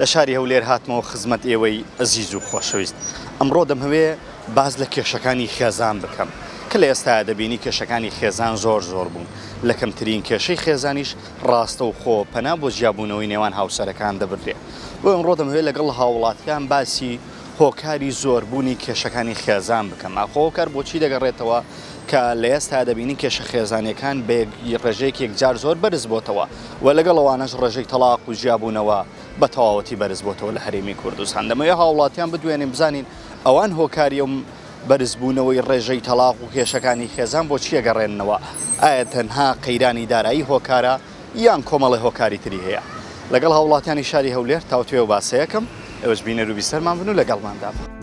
لە شاری هەولێر هاتمەوە خزمەت ئێوەی ئەزیز و خۆشەویست. ئەمڕۆ دەمهەوێ باس لە کێشەکانی خێزان بکەم. کە لە ئێستایا دەبینی کێشەکانی خێزان زۆر زۆر بوون. لە کەمترین کێشەی خێزانیش ڕاستەوخۆ پەنا بۆ جیابوونەوەی نێوان هاوسەرەکان دەبردرێ. بۆیە ئەمڕۆ دەمهەوێ لەگەڵ هاووڵاتیان باسی هۆکاری زۆربوونی کێشەکانی خێزان بکەم. ئاخۆ هۆکار بۆ چی دەگەڕێتەوە کە لە ئێستایا دەبینین کێشە خێزانییەکان بە ڕێژەیەک یەکجار زۆر بەرز بۆتەوە؟ و لەگەڵ ئەوانەش ڕێژەی تەڵاق و جیابوونەوە بە تەواوەتی بەرزبۆتەوە لە هەرێمی کوردستان دەمەوێ هاوڵاتیان بدوێنین بزانین ئەوان هۆکاری ئەم بەرزبوونەوەی ڕێژەی تەڵاق و کێشەکانی خێزان بۆ چی ئەگەڕێننەوە ئایا تەنها قەیرانی دارایی هۆکارە یان کۆمەڵی هۆکاری تری هەیە لەگەڵ هاوڵاتیانی شاری هەولێر تاوتوێ و باسەیەکەم ئێوەش بینەر و بیسەرمان بن و لەگەڵماندا بن.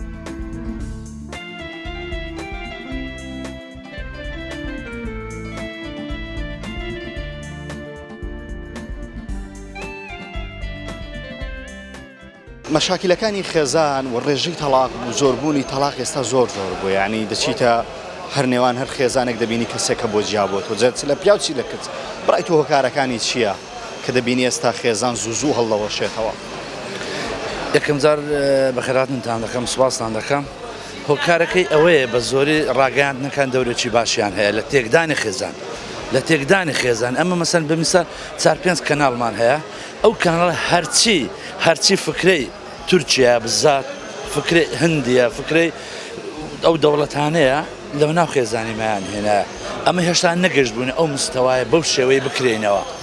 مەشاکیلەکانی خێزان و ڕێژەی تەڵاق و زۆربوونی تەڵاق ئێستا زۆر زۆر بوو یعنی دەچیتە هەر نێوان هەر خێزانێک دەبینی کەسێک کە بۆ جیا بۆت و جەرچ لە پیاوچی لە کچ بڕای تو هۆکارەکانی چییە کە دەبینی ئێستا خێزان زوو زوو هەڵدەوەشێتەوە. یەکەم جار بەخێرهاتنتان دەکەم سوپاستان دەکەم هۆکارەکەی ئەوەیە بە زۆری ڕاگەیاندنەکان دەورێکی باشیان هەیە لە تێکدانی خێزان لە تێکدانی خێزان ئەمە مەسەن بمیسە چار پێنج کەناڵمان هەیە ئەو کانڵ هەرچی هەرچی فکرەی تورکیا بزات فکرەی هندیە فکرەی ئەو دەوڵەتانەیە لەو ناو خێزانی مایان هێنایە ئەمە هێشتا نەگەشت بوونە ئەو مستەوایە بەو شێوەی بکرێنەوە.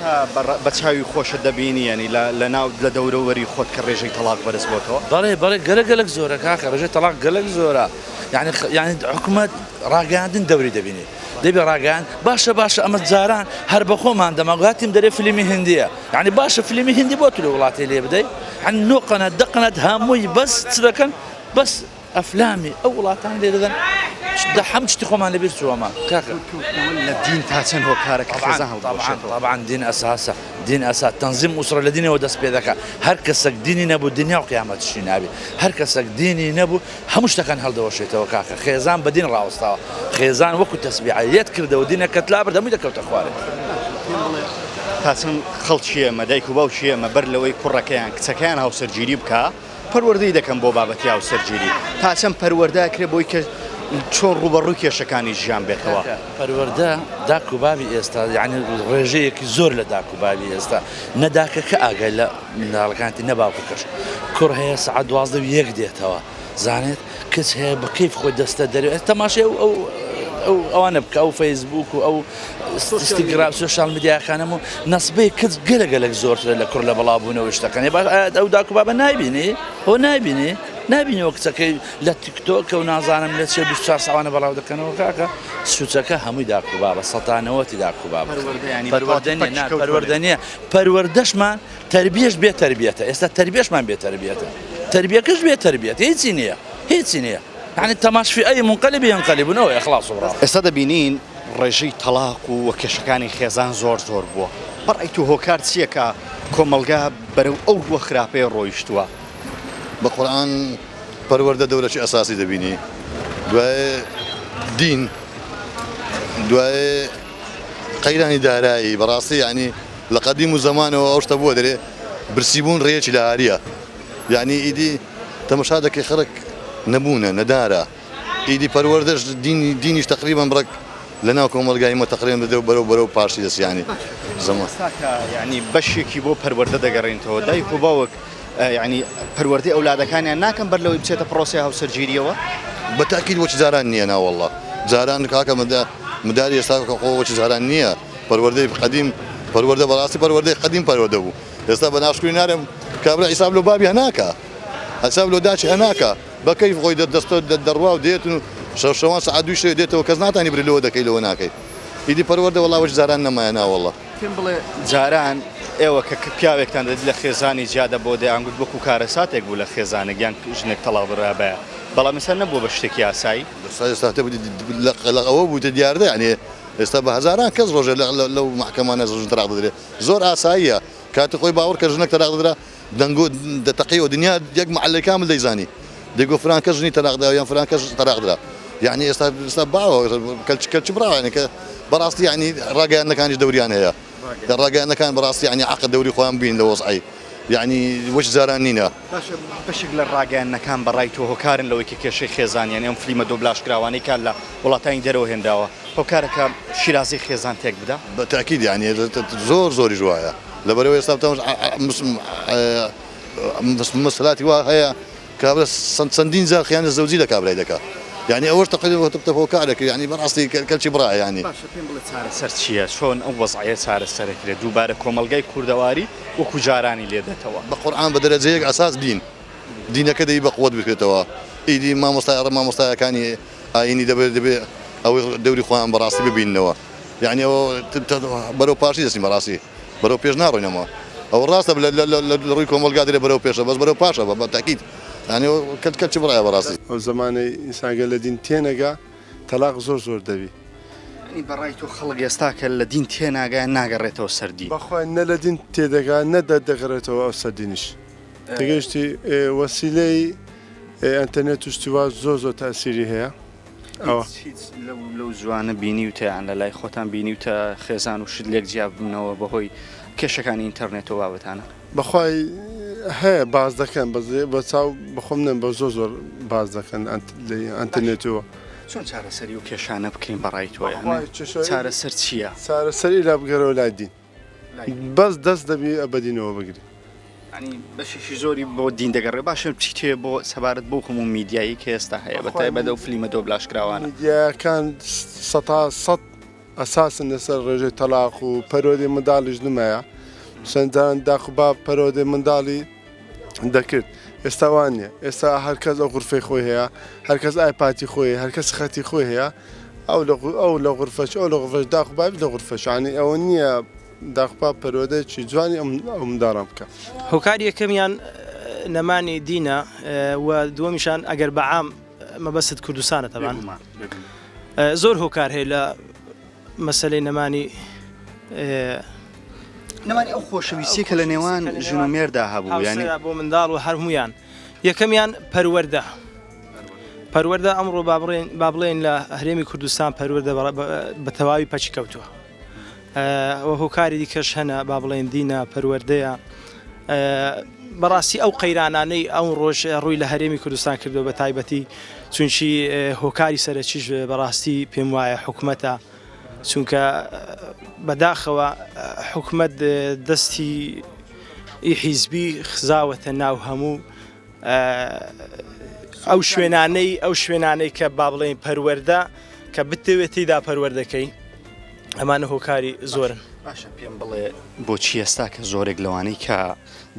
تا بە چاوی خۆشت دەبینی یانی لە ناو لە دەورە وەری خۆت کە ڕێژەی تەڵاق بەرز بۆتەوە؟ بەڵێ بەڵێ گەلەک گەلەک زۆرە کاکە ڕێژەی تەڵاق گەلەک زۆرە یانی یانی حکومەت ڕاگەیاندن دەوری دەبینی دەبێ ڕاگەیان باشە باشە ئەمە جاران هەر بەخۆمان دەما گاتیم دەرێ فلیمی هندیە یعنی باشە فلیمی هندی بۆ تر وڵاتی لێ بدەی هەن نۆ قەنات دە قەنات هەمووی بەس چ دەکەن بەس ئەفلامی ئەو وڵاتان لێ دەدەن دە حەم شتی خۆمان لە بیر چووەمە کاکە لە دین تا چەند هۆکارە کە خێزان هەڵبوەشێتەوە طبعا دین ئەساسە دین ئەسا تەنزیم ئوسرە لە دینەوە دەست پێ دەکا هەر کەسەک دینی نەبوو دنیا و قیامەت شی نابێ هەر کەسەک دینی نەبوو هەموو شتەکان هەڵدەوەشێتەوە کاکە خێزان بە دین ڕاوەستاوە خێزان وەکو تەسبیعە یەت کردەوە دینەکەت لابرد هەمووی دەکەوتە خوارێ پێم بڵێ تا چەند خەڵکی ئێمە دایک و باوکی ئێمە بەر لەوەی کوڕەکەیان کچەکەیان هاوسەرگیری بکا پەروەردەی دەکەن بۆ بابەتی هاوسەرگیری تا چەند پەروەردە ئەکرێت بۆی کە چۆن ڕووبەڕووی کێشەکانی ژیان بێتەوە؟ پەروەردە داک و بابی ئێستا یعنی ڕێژەیەکی زۆر لە داک و بابی ئێستا نەداکەکە ئاگای لە مناڵەکانتی نەباوکەکەش کوڕ هەیە سعات دوازدە و یەک دێتەوە زانێت کچ هەیە بە کەیف خۆی دەستە دەرێ ئەس تەماشای ئەو ئەو ئەو ئەوانە بکە ئەو فەیسبوک و ئەو ئینستاگرام سۆشیال میدیاکانم و نەسبەی کچ گەلە گەلەک زۆرترە لە کوڕ لە بەڵاوبوونەوە شتەکانی باش ئەو داکو بابە نایبینی هۆ نایبینی نابینەوە کچەکەی لە تیکتۆکە و نازانم لە چێ بیست چوار ساڵانە بەڵاو دەکەنەوە کاکە سوچەکە هەمووی داکو بابە سەتانەوەتی داکو بابە پەروەردە نیە نا پەروەردە نیە پەروەردەشمان تەربیەش بێ تەربیەتە ئێستا تەربیەشمان بێ تەربیەتە تەربیەکەش بێ تەربیەت هیچی نییە هیچی نییە یعنی تەماش فی ئەی منقلب ینقلبون ئەوە اخلاص و بڕا. ئێستا دەبینین ڕێژەی تەڵاق و و کێشەکانی خێزان زۆر زۆر بووە بەڕای تۆ هۆکار چییە کە کۆمەڵگا بەرەو ئەو ڕووە خراپەیە ڕۆیشتووە؟ بە قورعان پەروەردە دەورەکی ئەساسی دەبینی دوای دین دوای قەیرانی دارایی بەڕاستی یانی. لە قەدیم و زەمانەوە ئەو شتە بووە دەرێ برسی بوون ڕێیەکی لە ئاریە یانی ئیدی تەمەشا دەکەی خەرک نەبوونە نەدارە ئیدی پەروەردەش دینی دینیش تقریبا بڕک لە ناو کۆمەلگای مە تقرێن دەدەو بەرەو بەرەو پاشی دەس یانی زەمان یانی بەشێکی بۆ پەروەردە دەگەڕێنتەوە دایک و باوک یانی پەروەردەی ئەولادەکانیان ناکەم بەر لەوەی بچێتە پرۆسی هاوسەرگیریەوە بە تاکید وەک جاران نییە ناوەڵڵا جاران کاکە مدە مداری ئێستا کە خۆ وەکی جاران نییە. پەروەردەی قەدیم پەروەردە بەڕاستی پەروەردەی قەدیم پەروەردە بوو ئێستا بە ناشکری نارێم کابرا حیساب لەو بابی هەناکە حساب لۆ داچی هەناکە بە کەیف خۆی دەستۆ دەڕوا و دێت و شەوان سعات دوو شوێ دێتەوە کەس ناتانی بری لەوە دەکەی لەوە ناکەی ئیدی پەروەردە وەڵا وەش زاران نەمایە ناوەڵڵە پێم بڵێ جاران ئێوە کە پیاوێکتان دەدی لە خێزانی جیادە بۆ دەیانگوت وەکو کارەساتێک بوو لە خێزانێک یان ژنێک تەڵاو برابایە بەڵام ئێستا نەبووە بە شتێکی یاسایی ساتە لە ئەوە بوو دیاردە یانێ ئێستا بە هەزاران کەس ڕۆژێ لەو مەحکەمانە ژن تەلاق دەدرێ زۆر ئاساییە کاتی خۆی باوەڕ کە ژنەک تەلاق دەدرا دەنگۆ دەتەقی و دنیا یەک مەحەلەی کامل دەیزانی دەگۆ فران کەس ژنی تەلاق دا یان فران کەس تەلاق درا یعنی ئێستا ئێستا باوە کەلچ کەلچ بڕاوانێکە بەڕاستی یعنی ڕاگەیاندنەکانیش دەوریان هەیە لە ڕاگەیاندنەکان بەڕاستی یەعنی عەقد دەوری خۆیان بین لە وەزعەی یەعنی وەک جاران نینە. باشە بەشێک لە ڕاگەیاندنەکان بەڕای تۆ هۆکارن لەوەی کە کێشەی خێزان یەعنی ئەم فلیمە دۆبلاژ کراوانەی کە لە وڵاتانی دەرەوە هێنراوە هۆکارە کە شیرازەی خێزان تێک بدا؟ بە تەئکید یەعنی زۆر زۆریش وایە لەبەرئەوەی ئێستا بتەمەش مسلاتی وا هەیە، کابرا سەن چەندین جار خیانە زەوجی لە کابرای دەکا یانی ئەوەش تەقریر وە تەپتەپەوە کار دەکری یانی بەڕاستی کە کەلکی بڕایە یانی. باشە پێم بڵێ چارەسەر چییە چۆن ئەو وەزعەیە چارەسەر ئەکرێ دووبارە کۆمەڵگای کوردەواری وەکو جارانی لێ دەتەوە. بە قورعان بە دەرەجەیەک ئەساس دین دینەکە دەبی بە قوت بکرێتەوە ئیدی مامۆستا ئەڕێ مامۆستایەکانی ئاینی دەبێ دەبێ ئەوەی دەوری خۆیان بەڕاستی ببیننەوە یانی ئەوە بەرەو پاشی دەچین بەڕاستی. بەرەو پێش ناڕۆینەوە ئەوە ڕاستە بلە لە لە لە ڕووی کۆمەڵگا درێ بەرەو پێشە بەس بەرەو پاشە بە بە تەکید یانی و کەت کەت چ بڕای بەڕاستی. ئەو زەمانەی ئینسان گەر لە دین تێنەگا تەلاق زۆر زۆر دەبی. یانی بە ڕای تۆ خەڵک ئێستا کە لە دین تێناگا ناگەڕێتەوە سەر دین؟ بەخوا نە لە دین تێدەگا نە دە دەگەڕێتەوە ئەو سەر دینیش تێگەیشتی وەسیلەی ئێنتەرنێت و شتی وا زۆر زۆر تاسیری هەیە. لەو زوانە بینیوتەیان لە لای خۆتان بینیوتە خێزان و شت لێک جیاببوونەوە بەهۆی کێشەکانی ئینتەرنێتەوە بابەتانە بەخوای هەیە باز دەکەن بەزێ بە چاو بەخۆم نم بە زۆر زۆر باز دەکەن ئەتەنێتەوە چۆن چارەسەری و کێشانە بکەین بەڕای تۆ چارەسەر چییە؟ چارەسەری لا بگەرەوە لای دین بەس دەست دەبی بەدینەوە بگری بەشێکی زۆری بۆ دین دەگەڕێ باشە چیتێ بۆ سەبارەت بۆ هەموو میدیایی کە ئێستا هەیە بە تای بەدە و فلیمە دۆ بلاشکراوان دیەکان سە سە ئەساسن لەسەر ڕێژەی تەلاق و پەرۆدی منداڵیش نمایە سندان داخبا پەرۆدی منداڵی دەکرد ئێستا وان نیە ئێستا هەرکەس ئەو غرفەی خۆی هەیە هەرکەس ئایپاتی خۆی هەرکەس خەتی خۆی هەیە ئەو لە ئەو لە غرفەش ئەو لە غرفەش داخباب لە غرفەشانی ئەوە نییە داخپا پەرۆدەێکی جوانی ئەم داڕم بکە هۆکار یەکەمیان نەمانی دینە و دووەمیشان ئەگەر بەعام مەبەست کوردستانە تەبان زۆر هۆکار هەیە لە مەسەلەی نەمانی. نەمانی ئەو خۆشەویستیە کە لە نێوان ژن و مێردا هەبوو یانی بۆ منداڵ و هەرمویان یەکەمیان پەروەەردە پەروەەردە ئەمڕۆ بابڕێن با بڵێن لە هەرێمی کوردستان پەروەەردە بە تەواوی پەچی کەوتووە وە هۆکاری دیکەش هەنە با بڵێن دینە پەروەەردەیە بەڕاستی ئەو قەیرانانەی ئەمڕۆش ڕووی لە هەرێمی کوردستان کردووە بە تایبەتی چونکی هۆکاری سەرەکیش بەڕاستی پێم وایە حکومەتە چونکە بەداخەوە حکومەت دەستی ئی حیزبی خزاوەتە ناو هەموو ئەو شوێنانەی ئەو شوێنانەی کە با بڵێن پەروەەردە کە بتەوێت تیدا پەروەردەکەی ئەمانە هۆکاری زۆرن. باشە پێم بڵێ بۆچی ئێستا کە زۆرێک لەوانەی کە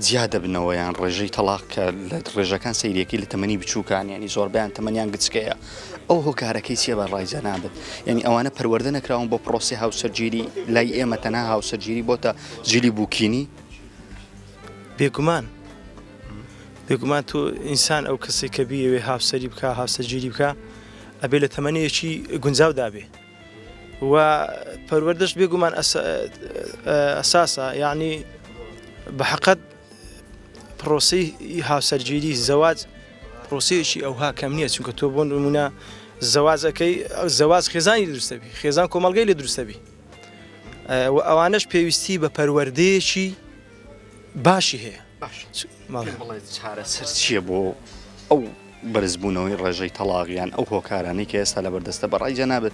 جیا دەبنەوە یان ڕێژەی تەلاق کە لە ڕێژەکان سەیرەکەی لە تەمەنی بچووکان ینی زۆربیان تەمەنیان گچکەیە ئەو هۆکارەکەی چیە بە ڕایجە نابێت یعنی ئەوانە پەروەەردە نەکراون بۆ پرۆسی هاوسەرگیری لای ئێمە تەنها هاوسەرگیری بۆتە جلی بووکینی بێگومان بێگومان تۆ ئینسان ئەو کەسی کە بیەوێ هاوسەری بکە هاوسەرگیری بکە ئەبێ لە تەمەنیەکی گونجاو دابێ و پەروەردەش بێگومان ئەساسە یعنی بە حقت پرۆسی هاوسەرگیری زەواج پرۆسیەکی ئەوها کەم نییە چونکە تۆ بۆن نمونە زەواجەکەی زەواز خێزانی دروستەبی خێزان کۆمەلگەی لە دروستەبی و ئەوانش پێویستی بە پەروەردەیەکی باشی هەیە. باشە پێم بڵێ چارەسەر چییە بۆ ئەو بەرزبوونەوەی ڕێژەی تەڵاق یان ئەو هۆکارانەی کە ئێستا لەبەردەستە بە ڕای جەنابت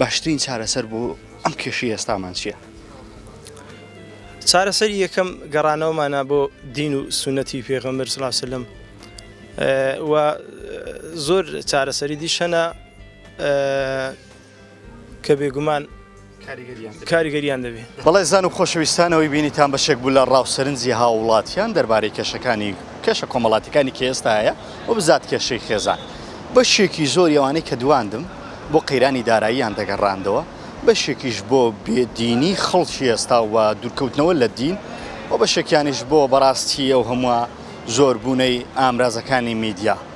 باشترین چارەسەر بۆ ئەم کێشەی ئێستامان چییە؟ چارەسەری یەکەم گەڕانەوەمانە بۆ دین و سونەتی پێغەمبەر صلی الله علیه و سلم و زۆر چارەسەری دیش هەنە کە بێگومان کاریگەریان دەبێت. بەڵێزان و خۆشەویستان ئەوەی بینیتان بەشێک بوو لە ڕاوسەرنجی هاووڵاتیان دەربارەی کێشەکانی کێشە کۆمەڵاتیەکانی کە ئێستا هەیە و بزات کێشەی خێزان بەشێکی زۆری ئەوانەی کە دواندم بۆ قەیرانی داراییان دەگەڕاندەوە بەشێکیش بۆ بێ دینی خەڵکی ئێستا و دوورکەوتنەوە لە دین و بەشێکیانیش بۆ بەڕاستی ئەو هەمووە زۆربوونەی ئامرازەکانی میدیا.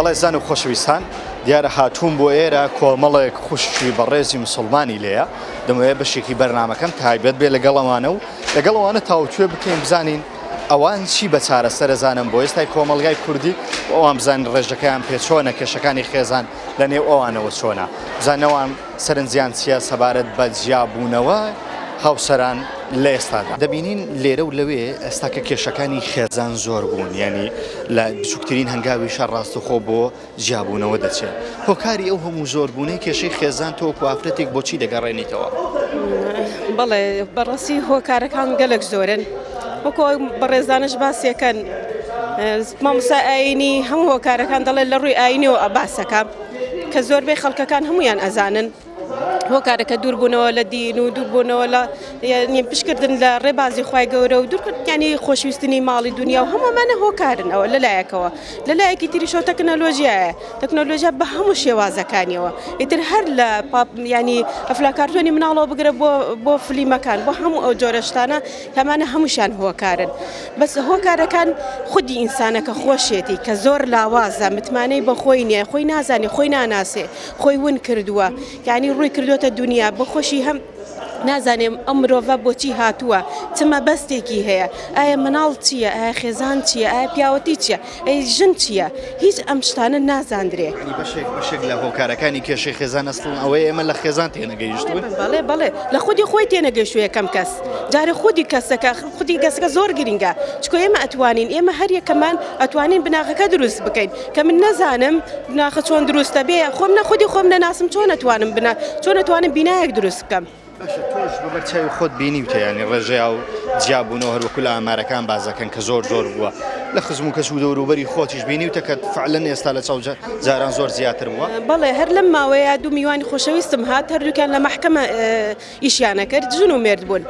بەڕێزان و خۆشەویستان دیارە هاتووم بۆ ئێرە کۆمەڵێک خوشکی بەڕێزی مسلمانی لێە دەمەوێت بەشێکی بەرنمەکەم تایبەت بێ لەگەڵەوانە و لەگەڵەوانە تاوتوێ بکەین بزانین ئەوان چی بە چارەسەر ئەزانن بۆ ئێستای کۆمەڵگای کوردی و ئەوان بزانن ڕێژەکەیان پێ چۆنە، کێشەکانی خێزان لە نێو ئەوانەوە چۆنە، بزانن ئەوان سەرنجیان چییە سەبارەت بە جیابوونەوە هاوسەران لە ئێستادا. دەبینین لێرە و لەوێ ئێستاکە کێشەکانی خێزان زۆر بوون، یانی لە بچووکترین هەنگاویشە ڕاستەوخۆ بۆ. جیابوونەوە دەچێت هۆکاری ئەو هەموو زۆر بوونەی کێشەی خێزان تۆ وەکو ئافرەتێک بۆچی دەگەڕێنیتەوە؟ بەڵێ بەڕاستی هۆکارەکان گەلک زۆرن وەکۆ بەڕێزانش باسیەکەن مامسا ئاینی هەموو هۆکارەکان دەڵێت لە ڕووی ئاینەوە ئە باسەکە کە زۆربەی خەڵکەکان هەمویان ئەزانن هۆکارەکە دوور بوونەوە لە دین و دوور بوونەوە لە یعنی پشکردن لە ڕێبازی خوای گەورە و دوور یعنی خۆشویستنی ماڵی دنیا و هەموومانە هۆکارن ئەوە لەلایەکەوە لە لایەکی تریشەوە تەکنەلۆژیایە تەکنەلۆژیا بە هەموو شێوازەکانیەوە ئیتر هەر لە ینی ئەفلاکارتۆنی مناڵەوە بگرە بۆ بۆ فلیمەکان بۆ هەموو ئەو جۆرەشتانە کەمانە هەمووشان هۆکارن بەس هۆکارەکان خودی ئینسانەکە خۆشێتی کە زۆر لاوازە متمانەی بە خۆی نیە خۆی نازانێ خۆی ناناسێ خۆی ون کردووە یانی ڕووی کردوەتە دونیا بۆخۆشی هەم نازانێم ئەم مرۆڤە بۆچی هاتووە چمە بەستێکی هەیە ئایا مناڵ چییە ئایا خێزان چییە ئایا پیاوەتی چییە ئەی ژن چییە هیچ ئەم شتانە نازاندرێ بەشێک بەشێک لە هۆکارەکانی کێشەی خێزان ئەسڵن ئەوەی ئێمە لە خێزان تێنەگەیشتون بەڵێ بەڵێ لە خودی خۆی تێنەگەشتووە یەکەم کەس جارە خودی کەسەکە خودی گەسەکە زۆر گرنگە چکۆ ئێمە ئەتوانین ئێمە هەر یەکەمان ئەتوانین بناغەکە دروست بکەین کە من نەزانم بناخە چۆن دروستە بێ خۆم نە خودی خۆم نەناسم چۆن نەتوانم بنا چۆن نەتوانم بینایەک دروست بکەم بەبەر چاوی خۆت بینی وتەیانی ڕێژەیا و جیابوونەوە هەروەکو لە ئامارەکان بازەکەن کە زۆر زۆر بووە لە خزم و کەس و دەوروبەری خۆتیش بینی و تەکەت فعلەن ئێستا لە چاو جاران زۆر زیاتر بووە بەڵێ هەر لەم ماوەیە دوو میوانی خۆشەویستم هات هەردووکیان لە مەحکەمە ئیشیان ئەکرد ژن و مێرد بوون.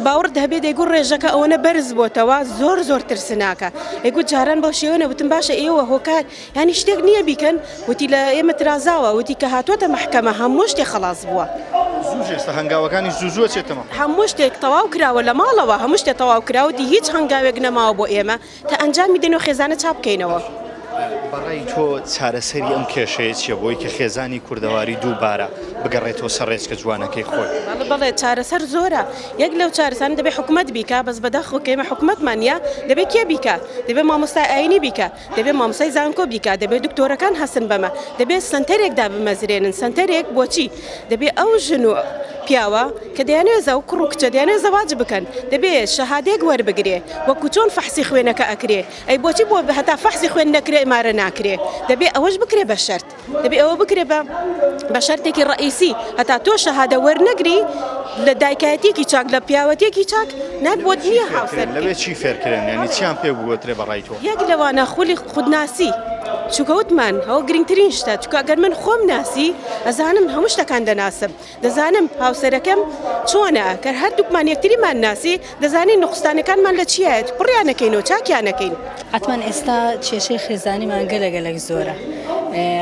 باوەڕت هەبێ دەیگوت ڕێژەکە ئەوەنە بەرز بۆتەوە زۆر زۆر ترسناکە دەیگوت جاران بەو شێوە نەبوتم باشە ئێوە هۆکار ینی شتێک نییە بیکەن وتی لە ئێمە ترازاوە وتی کە هاتووەتە محکەمە هەموو شتێ خەڵاس بووە هەنگاوەکانی زوزوە چێتەوە هەموو شتێک تەواو کراوە لە ماڵەوە هەموو شتێ تەواو کراوەتی هیچ هەنگاوێک نەماوە بۆ ئێمە. کە ئەنجامی دەنێ و خێزانە چاپ بکەینەوە. بەڕای تۆ چارەسەری ئەم کێشەیە چیە بۆی کە خێزانی کوردەواری دوو بارە بگەڕێتەوە سەر ڕێچکە جوانەکەی خۆی؟ بەڵێ بەڵێ چارەسەر زۆرە یەک لەو چارەسەرانە دەبێ حکومەت بیکا بەس بەداخەوە کە ئێمە حکومەتمان نیە دەبێ کێ بیکا دەبێ مامۆستای ئاینی بیکا دەبێ مامۆستای زانکۆ بیکا دەبێ دکتۆرەکان هەستن بەمە دەبێ سەنتەرێک دابمەزرێنن سەنتەرێک بۆچی دەبێ ئەو ژن و پیاوە کە دەیانەوێ زە و کوڕ و کچە دەیانەوێ زەواج بکەن دەبێ شەهادەیەک وەربگرێ وەکوو چۆن فەحسی خوێنەکە ئەکرێ ئەی بۆچی بۆ هەتا فەحسی خوێن نەکرێ ئەمارە ناکرێ دەبێ ئەوەش بکرێ بە شەرت دەبێ ئەوە بکرێ بە بە شەرتێکی ڕەئیسی هەتا تۆ شەهادە وەرنەگری لە دایکایەتیەکی چاک لە پیاوەتیەکی چاک نەک بۆت نییە هاوسەر بکەی. لەوێ چی فێرکرێن یانی چیان پێ بگۆترێ بە ڕای تۆ؟ یەک لەوانە خولی خودناسی چونکە وتمان ئەوە گرنگترین شتە چونکە ئەگەر من خۆم ناسی ئەزانم هەموو شتەکان دەناسم دەزانم هاوسەرەکەم چۆنە کە هەردووکمان یەکتریمان ناسی دەزانین نقستانەکانمان لە چیایەت پڕیانەکەین و چاکیانەکەین ئەتمان ئێستا کێشەی خێزانیمان گەلە گەلەک زۆرە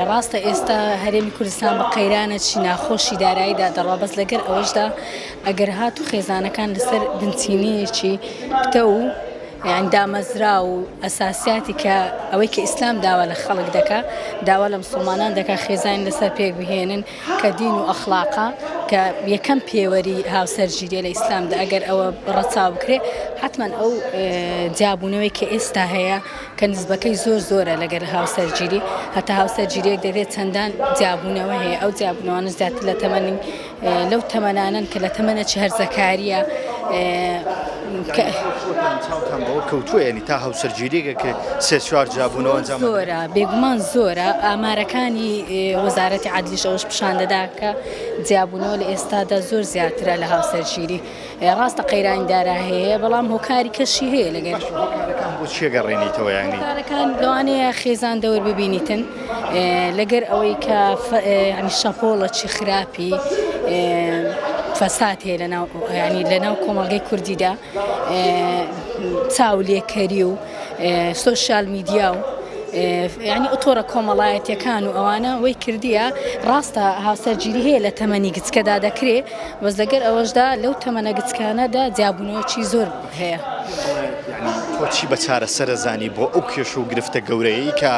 ڕاستە ئێستا هەرێمی کوردستان بە قەیرانە چی ناخۆشی داراییدا دەڕا بەس لەگەر ئەوەشدا ئەگەر هات و خێزانەکان لەسەر بنچینەیەکی پتە و یانی دامەزراو و ئەساسیاتی کە ئەوەی کە ئیسلام داوا لە خەڵک دەکا داوا لە مسوڵمانان دەکا خێزانی لەسەر پێک بهێنن کە دین و ئەخلاقا کە یەکەم پێوەری هاوسەرگیریە لە ئیسلامدا ئەگەر ئەوە ڕەچاو بکرێ حتمما ئەو جیابوونەوەی کە ئێستا هەیە کە نزبەکەی زۆر زۆرە لەگەر هاوسەرگیری هەتا هاوسەرگیریەک دەبێت چەندان جیابوونەوە هەیە ئەو جیابوونەوەە زیاتر لە تەمەنی لەو تەمەنانەن کە لە تەمەنە چ هەرزەکاریە کە چاوتان بەوە کەوتووە یعنی تا هاوسەرگیریێکە کرد سێ چوار جابوونەوە ئەنجام نەدرێت. زۆرە بێگومان زۆرە ئامارەکانی ئێ، وەزارەتی عەدلیش ئەوەش پیشان دەدا کە جیابوونەوە لە ئێستادا زۆر زیاترە لە هاوسەرگیری. ڕاستە قەیرانی دارا هەیە بەڵام هۆکاری کەشی هەیە لەگەر چێگەڕێنیتەوەیانەکان لەوانەیە خێزان دەور ببینیتن لەگەر ئەوەی کە شەپۆڵە چی خراپی فەسات هەیە لەناو ینی لەناو کۆمەڵگەی کوردیدا چاو لێکەری و سوۆسیال میدیا و ینی ئۆتۆرە کۆمەڵایەتەکان و ئەوانە وەی کردیە ڕاستە هاوسەرگیری هەیە لە تەمەنی گچکەدا دەکرێت بەس لەگەر ئەوەشدا لەو تەمەنە گچکانەدا جیابوونەوەکی زۆر هەیە. تۆ چی بە چارەسەرە زانی بۆ ئەو کێشە و گرفتە گەورەیەی کە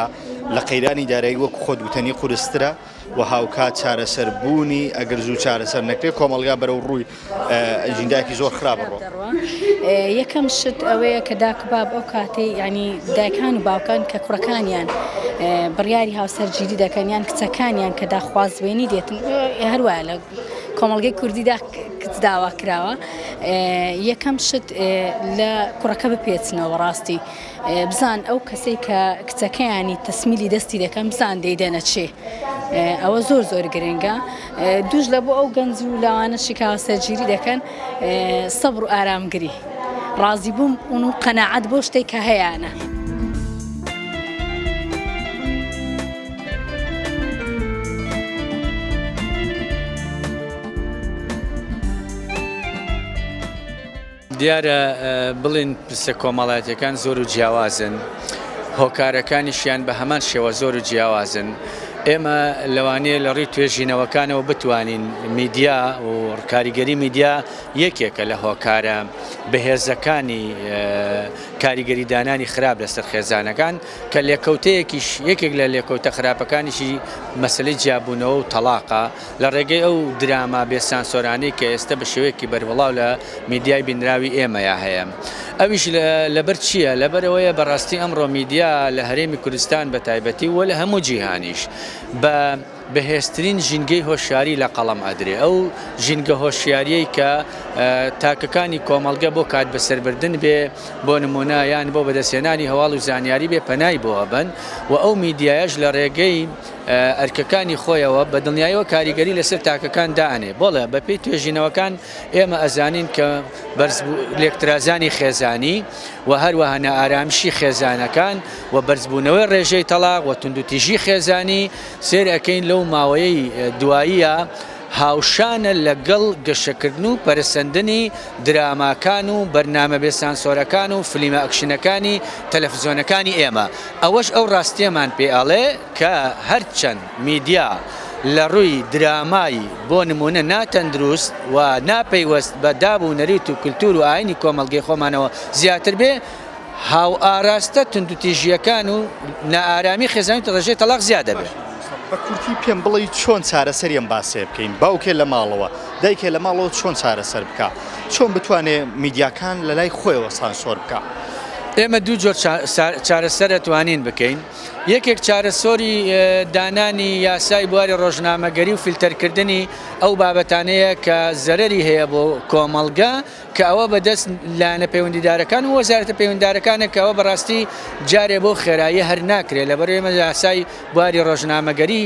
لە قەیرانی دارایی وەک خۆت وتەنی قورسترە و هاوکات چارەسەر بوونی ئەگەر زوو چارەسەر نەکرێت کۆمەڵگا بەرەو ڕووی ئەجیندایەکی زۆر خراپ بڕۆ یەکەم شت ئەوەیە کە داکباب ئەو کاتی ینی دایکان و باوکان کە کوڕەکانیان بڕیاری هاوسەرگیری دەکەن یان کچەکانیان کە داخوازێنی دێتن هەروە لە کۆمەڵگەی کوردیدا کچ داوا کراوە یەکەم شت لە کوڕەکە بپێچنەوە ڕاستی بزان ئەو کەسەی کە کچەکەیانی تەسمیلی دەستی دەکەم بزان دەیدەنە چێ ئەوە زۆر زۆر گرنگە دوش لە بۆ ئەو گەنج و لاوانە شکاوە سەرگیری دەکەن سەبر و ئارامگری ڕازی بووم ئون و قەنەعەت بۆ شتێک کە هەیەە. دیارە بڵێن پرسە کۆمەڵایەتەکان زۆر و جیاوازن هۆکارەکانیشیان بە هەمان شێوە زۆر و جیاوازن ئێمە لەوانەیە لە ڕووی توێژینەوەکانەوە بتوانین میدیا و کاریگەری میدیا یەکێکە لە هۆکارە بەهێزەکانی کاریگەریدانانی خراپ لەسەر خێزانەکان کە لێکەوتەیەکیش یەکێک لە لێکەوتە خراپەکانیشی مەسەلەی جیابوونەوە و تەڵاقە لە ڕێگەی ئەو دراما بێ سانسۆرانەی کە ئێستە بە شێوەیەکی بەربڵاو لە میدیای بینراوی ئێمەیا هەیە ئەویش لەبەر چییە لەبەر ئەوەیە بەڕاستی ئەمڕۆ میدیا لە هەرێمی کوردستان بە تایبەتی و لە هەموو جیهانیش بە بەهێزترین ژینگەی هۆشیاری لە قەڵەم ئەدرێ ئەو ژینگە هۆشیاریەی کە تاکەکانی کۆمەڵگە بۆ کات بەسەربردن بێ بۆ نمونە یان بۆ بەدەستێنانی هەواڵ و زانیاری بێ پەنای بۆ ئەبەن و ئەو میدیایش لە ڕێگەی ئەرکەکانی خۆیەوە بە دڵنیایەوە کاریگەری لەسەر تاکەکان دانێ بۆڵێ بەپی توێژینەوەکان ئێمە ئەزانین کە بەرز لێکترازانی خێزانی و هەروەها نائارامشی خێزانەکان و بەرزبوونەوەی ڕێژەی تەلاق و توندوتیژی خێزانی سەیر ئەکەین لەو ماوەیەی دواییە هاوشانە لەگەڵ گەشەکردن و پەرەسەندنی دراماکان و بەرنامە بێ سانسۆرەکان و فلیمە ئەکشنەکانی تەلەفزیۆنەکانی ئێمە ئەوەش ئەو ڕاستیەمان پێ ئەڵێ کە هەرچەند میدیا لە ڕووی درامای بۆ نموونە ناتەندروست و ناپەیوەست بە داب و نەریت و کلتور و ئاینی کۆمەڵگەی خۆمانەوە زیاتر بێ هاوئاراستە توندوتیژییەکان و نائارامی خێزانی و ڕێژەی تەڵاق زیاد دەبێت. بە کورتی پێم بڵی چۆن چارەسەری ئەم باسەیە بکەین باوکێ لە ماڵەوە دایکێ لە ماڵەوە چۆن چارەسەر بکا چۆن بتوانێ میدیاکان لە لای خۆیەوە سانسۆر بکا. ئێمە دوو جۆر چارەسەر ئەتوانین بکەین یەکێک چارەسۆری دانانی یاسای بواری ڕۆژنامەگەری و فیلتەرکردنی ئەو بابەتانەیە کە زەرەری هەیە بۆ کۆمەڵگە کە ئەوە بە دەست لایەنە پەیوەندیدارەکان و وەزارەتە پەیوەندیدارەکانە کە ئەوە بەڕاستی جارێ بەو خێراییە هەر ناکرێت لەبەر ئێمە یاسای بواری ڕۆژنامەگەری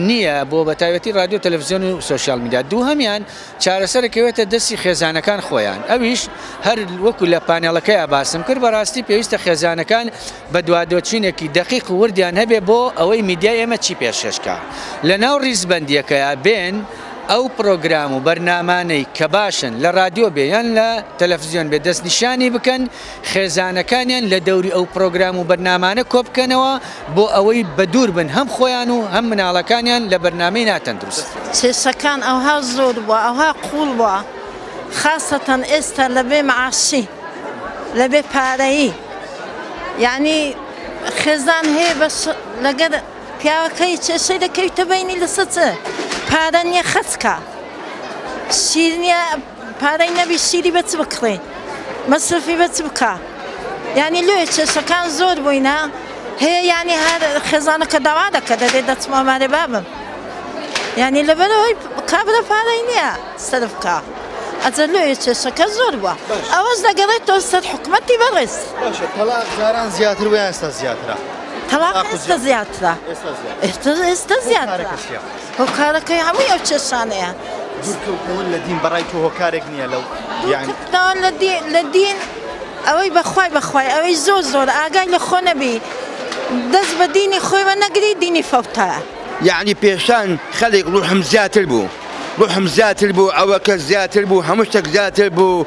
نییە بۆ بە تایبەتی ڕادیۆ و تەلەفزیۆن و سۆشیال میدیا دووهەمیان چارەسەر دەکەوێتە دەستی خێزانەکان خۆیان ئەویش هەر وەکو لە پانێڵەکەیا باسم کرد بەڕاستی پێویستە خێزانەکان بەدوادۆچینێکی دەقیق و وردیان هەبێت بۆ ئەوەی میدیای ئێمە چی پێشکەشکا لەناو ڕیزبەندییەکەیا بێن ئەو پڕۆگرام و بەرنامانەی کە باشن لە ڕادیۆ بێ یان لە تەلەفزیۆن بێ دەستنیشانی بکەن، خێزانەکانیان لە دەوری ئەو پڕۆگرام و بەرنامانە کۆبکەنەوە بۆ ئەوەی بەدوور بن هەم خۆیان و هەم مناڵەکانیان لە بەرنامەی ناتەندروست. کێشەکان ئەوها زۆر بوە ئەوها قوڵ بوە خاسەتەن ئێستا لە بێ معاشی لە بێ پارەیی یانی خێزان هەیە بەس لەگەر. پیاوە کەی چ شی دە کەویتە بەینی لە سە چ پارە نیە خەرج کا شیر نیە پارەی نەبی شیری بە چ بکڕی مەسرفی بە چ بکا یعنی لێ چێشەکان زۆر بووینە هەیە یعنی هەر خێزانەکە داوا دەکە دەبێت دەچمە مارێ بابم یعنی لەبەرەوەی کابرا پارەی نییە سرف کا ئەجە لێ چێشەکە زۆر بووە ئەوەش دەگەڕێتەوە سەر حکوومەتتی بەڕێز باشە تەلاق جاران زیاتر ویان ستا زیاترە تەواقع ئێستا زیاترە ئێستا زیاترە هۆکارەکەی هەمووی ئەو چێشانەیە دوورکەوتنەوە لە دین بەڕای تۆ هۆکارێک نییە لەو لە دین ئەوەی بەخوای بەخوای ئەوەی زۆر زۆر ئاگای لە خۆ نەبی دەست بە دینی خۆیوە نەگری دینی فەوتە یعنی پێشان خەلێک ڕوحم زیاتر بوو ڕوحم زیاتر بوو ئەوە کە زیاتر بوو هەموو شتێک زیاتر بوو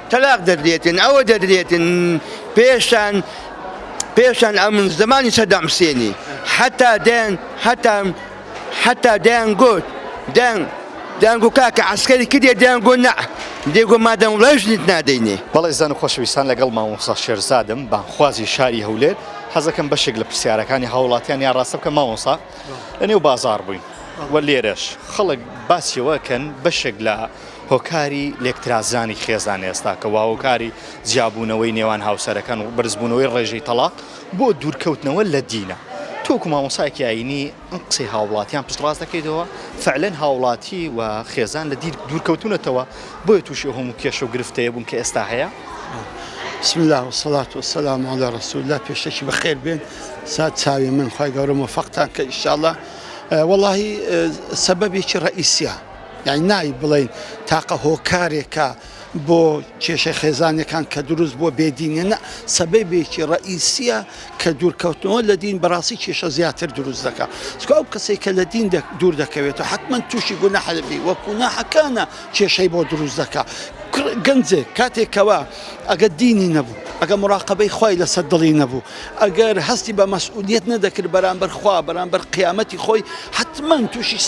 تەلاق دەدرێتن ئەوە دەدرێتن پێشان پێشان ئەم زمانی سەدام حسێنی حتا دەیان حتا حتا دەیان گوت دەیان دەنگو کاکە عسکەری کردێ دەیان گۆ نە دێگۆ مادەم ڕژنیت نادەینێ بەڵێ زان و خۆشەویستان لەگەڵ مامۆستا شێرزادم بانخوازی شاری هەولێر حەزەکەم بەشێک لە پرسیارەکانی هاوڵاتیان یا ڕاستە بکە مامۆسا لە نێو بازار بووین و لێرەش خەڵک باسیەوەکەن بەشێک لە هۆکاری لێکترازرانی خێزان ئێستا کە واهۆکاری جیابوونەوەی نێوان هاوسەرەکان و بەرزبوونەوەی ڕێژەی تەڵاق بۆ دوورکەوتنەوە لە دینە تۆ وەکو مامۆستایەکی ئاینی ئەم قسەی هاوڵاتیان پشتڕاست دەکەیتەوە فەعلەن هاوڵاتی و خێزان لە دین دوورکەوتونەتەوە بۆیە تووشی ئەو هەموو کێشە و گرفتەیە بوون کە ئێستا هەیە. بسم اللە والصلاة والسلام علی رسول اللە پێشەکی بەخێر بێن سات چاوی من خی گەورە مۆفەقتان کە ئیشاڵە وەڵاهی سەبەبێکی ڕئیسیە یانی نایب بڵێین تاقە هۆکارێکە بۆ کێشەی خێزانیەکان کە دروست بووە بێ دینە نە سەبەبێکی ڕئیسیە کە دوورکەوتنەوە لە دین بەڕاستی کێشە زیاتر دروست دەکە چکە ئەو کەسێک کە لە دین دوور دەکەوێت و حتمما تووشی گونە حەلبی وە کووناحەکانە کێشەی بۆ دروست دەکە گەنجێک کاتێکەوە ئەگە دینی نەبوو ئەگە مراقبەی خی لەسەر دڵی نەبوو ئەگەر هەستی بە مەسئولیەت نەدەکرد بەرامبەر خوا بەرامبەر قیامەتی خۆی حەتمەن توشی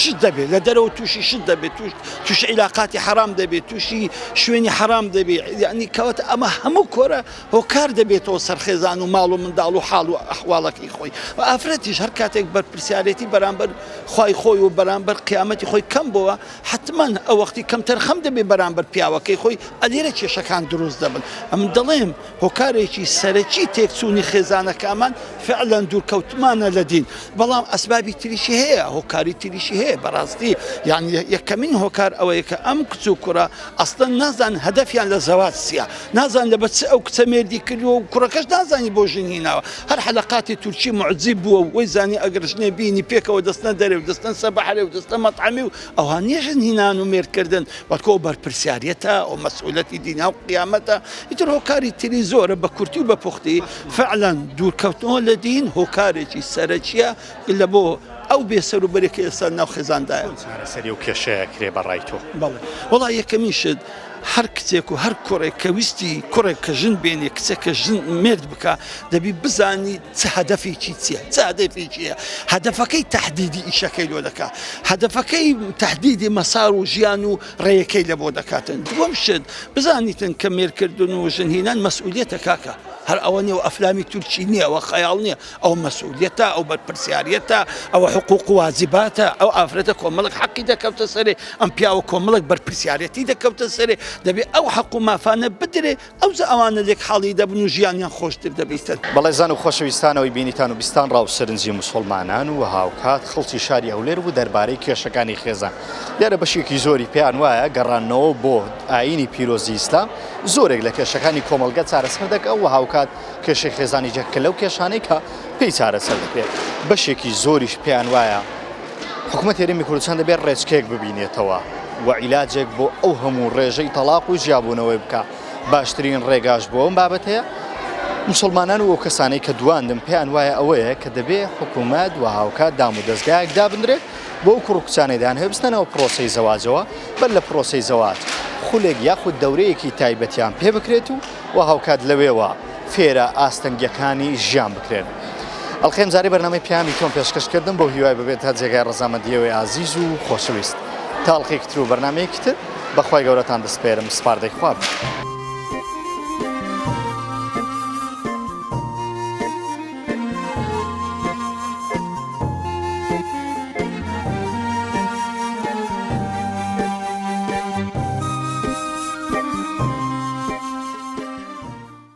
شت دەبێت لە دەرەوە توشی شت دەبێت توش توش عیلاقاتی حەرام دەبێت توشی شوێنی حەرام دەبێت یعنی کەواتە ئەمە هەموو کۆرە هۆکار دەبێتەوە سەر خێزان و ماڵ و منداڵ و حاڵ و ئەحواڵەکەی خۆی و ئافرەتیش هەر کاتێک بەرپرسیارێتی بەرامبەر خوای خۆی و بەرامبەر قیامەتی خۆی کەم بووە حەتمەن ئەو وەختی کەم تەرخەم دەبێت بەرامبەر پیاوەکەی خۆی ئەلێرە کێشەکان دروست دەبن ئەمن دەڵێم هۆکارێکی سەرەکی تێکچوونی خێزانەکانمان فعلەن دوورکەوتنمانە لە دین، بەڵام ئەسبابی تریشی هەیە، هۆکاری تریشی هەیە، بەڕاستی یان یەکەمین هۆکار ئەوەیە کە ئەم کچ و کوڕە ئەسڵەن نازانن هەدەفیان لە زەواج چییە، نازانن لەبەر چ ئەو کچە مێردی کردووە و کوڕەکەش نازانێت بۆ ژن هیناوە، هەر حەلەقاتی تورکی موعجیب بووە و وەی زانی ئەگەر ژنێ بینی پێکەوە دەچنە دەرێ و دەچنە سەر بەحرێ و دەچنە مەتعەمی و ئەوها نییە ژن هینان و مێردکردن، بەڵکو ئەو بەرپرسیاریەتە، ئەو مەسئولەتی دینیا و قیامەتە، ئیتر هۆکاری تری زۆرە بە کورتی و بە پوختی، فەعلەن دوورکەوتنەوە لە دین هۆکارێکی سەرەکییە لە بۆ ئەو بێ سەر و بەرەی کە ئێستا ناو خێزاندایە. چۆن چارەسەری ئەو کێشەیە ئەکرێ بە ڕای تۆ؟ بەڵێ وەڵا یەکەمین شت هەر کچێک و هەر کوڕێک کە ویستی کوڕێک کە ژن بێنێ کچێک کە ژن مێرد بکا دەبی بزانی چ هەدەفێکی چییە چ هەدەفێکی هەیە هەدەفەکەی تەحدیدی ئیشەکەی لۆ دەکا هەدەفەکەی تەحدیدی مەسار و ژیان و ڕێیەکەی لە بۆ دەکاتن دووەم شت بزانیتن کە مێرکردن و ژن هینان مەسئولیتە کاکە هەر ئەوە نیە و ئەفلامی تورکی نییە ئەوە خەیاڵ نییە ئەو مەسئولیتە ئەو بەرپرسیارەتە ئەوە حقوق واجباتە ئەو ئافرەتە کۆمەڵک حەقی دەکەوتە سەرێ ئەم پیاوە کۆمەڵک بەرپرسیارەتی دەکەوتە سەرێ دەبێ ئەو حەق و مافانە بدرێ ئەوجا ئەوانە لێک حاڵی دەبن و ژیانیان خۆشتر دەبیتن. بەڵێزان و خۆشەویستانەوەی بینیتان و بیستان ڕاو سەرنجی موسوڵمانان و هاوکات خەڵکی شاری هەولێر بوو دەربارەی کێشەکانی خێزان. لێرە بەشێکی زۆری پێیان وایە گەڕانەوە بۆ ئایینی پیرۆزی ئیسلام زۆرێک لە کێشەکانی کۆمەڵگە چارەسەر دەکا و هاوکات کێشەی خێزانیش یەکێکە لەو کێشانەی کە پێی چارەسەر دەکرێت. بەشێکی زۆریش پێیان وایە. حکومەت هەرێمی کوردستان دەبێت ڕێچکەیەک ببینێتەوە و عیلاجێک بۆ ئەو هەموو ڕێژەی تەڵاق و جیابوونەوەی بکا باشترین ڕێگاش بۆ ئەم بابەتەیە مسلمانان و ئەو کەسانەی کە دواندن پێیان وایە ئەوەیە کە دەبێ حکوومەت و هاوکات دام و دەستگایەک دابدرێت بۆ ئەو کوڕکچانەیدان هەبستنەوە پرۆسی زەواجەوە بەر لە پرۆسی زەواج خولێک یاخود دەورەیەکی تایبەتیان پێ بکرێت و و هاوکات لەوێوە فێرە ئاستەنگیەکانی ژیان بکرێن. ئەڵقەی ئەمجارەی بەرنامەی پیامی تۆم پێشکەش کردم بەو هیوای ببێت تا جێگای ڕەزامەندیەوەی ئازیز و خۆشەویست. تا ئەڵقەیەکی تر و بەرنامەیەکی تر بە خوای گەورەتان دەسپێرم سپاردەی خوا بن.